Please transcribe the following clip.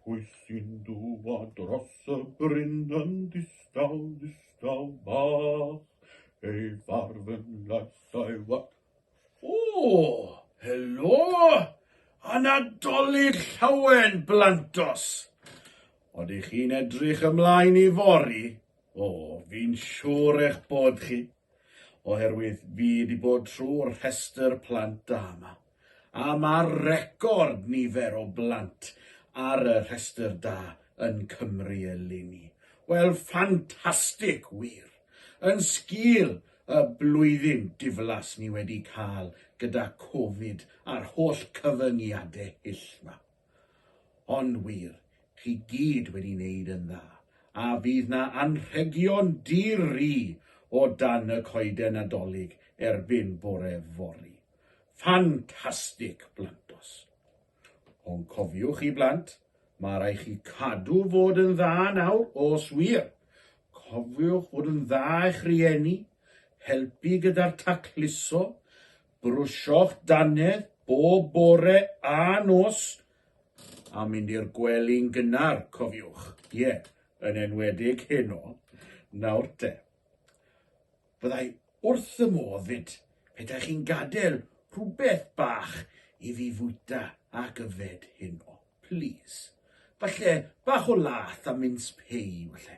Pwy sy'n dŵa dros y bryn yn ddistaw, ddistaw bach, ei farf yn lais a'i wag. O, helo! A Nadolig llawen, blantos! Oeddech chi'n edrych ymlaen i fori? O, fi'n siŵr eich bod chi, oherwydd fi wedi bod trwy'r rhestr plant da yma. a mae'r record nifer o blant ar y rhestr da yn Cymru eleni. Wel, ffantastig wir! Yn sgil y blwyddyn diflas ni wedi cael gyda Covid a'r holl cyfyngiadau hyll 'ma. Ond wir, chi gyd wedi neud yn dda, a fydd 'na anrhegion di-ri o dan y coeden Nadolig erbyn bore fory. Ffantastig, blantos! Ond cofiwch i blant, ma rai' chi cadw fod yn dda nawr, os wir! Cofiwch fod yn dda i'ch rieni, helpu gyda'r tacluso, Brwsio'ch dannedd bob bore a nos a mynd i'r gwely'n gynnar, cofiwch. Ie, yn enwedig heno. Nawr te. Byddai wrth y modd 'fyd petai chi'n gadael rhywbeth bach i fi fwyta ac yfed heno. Plîs. Falle bach o lath a mins pei, falle.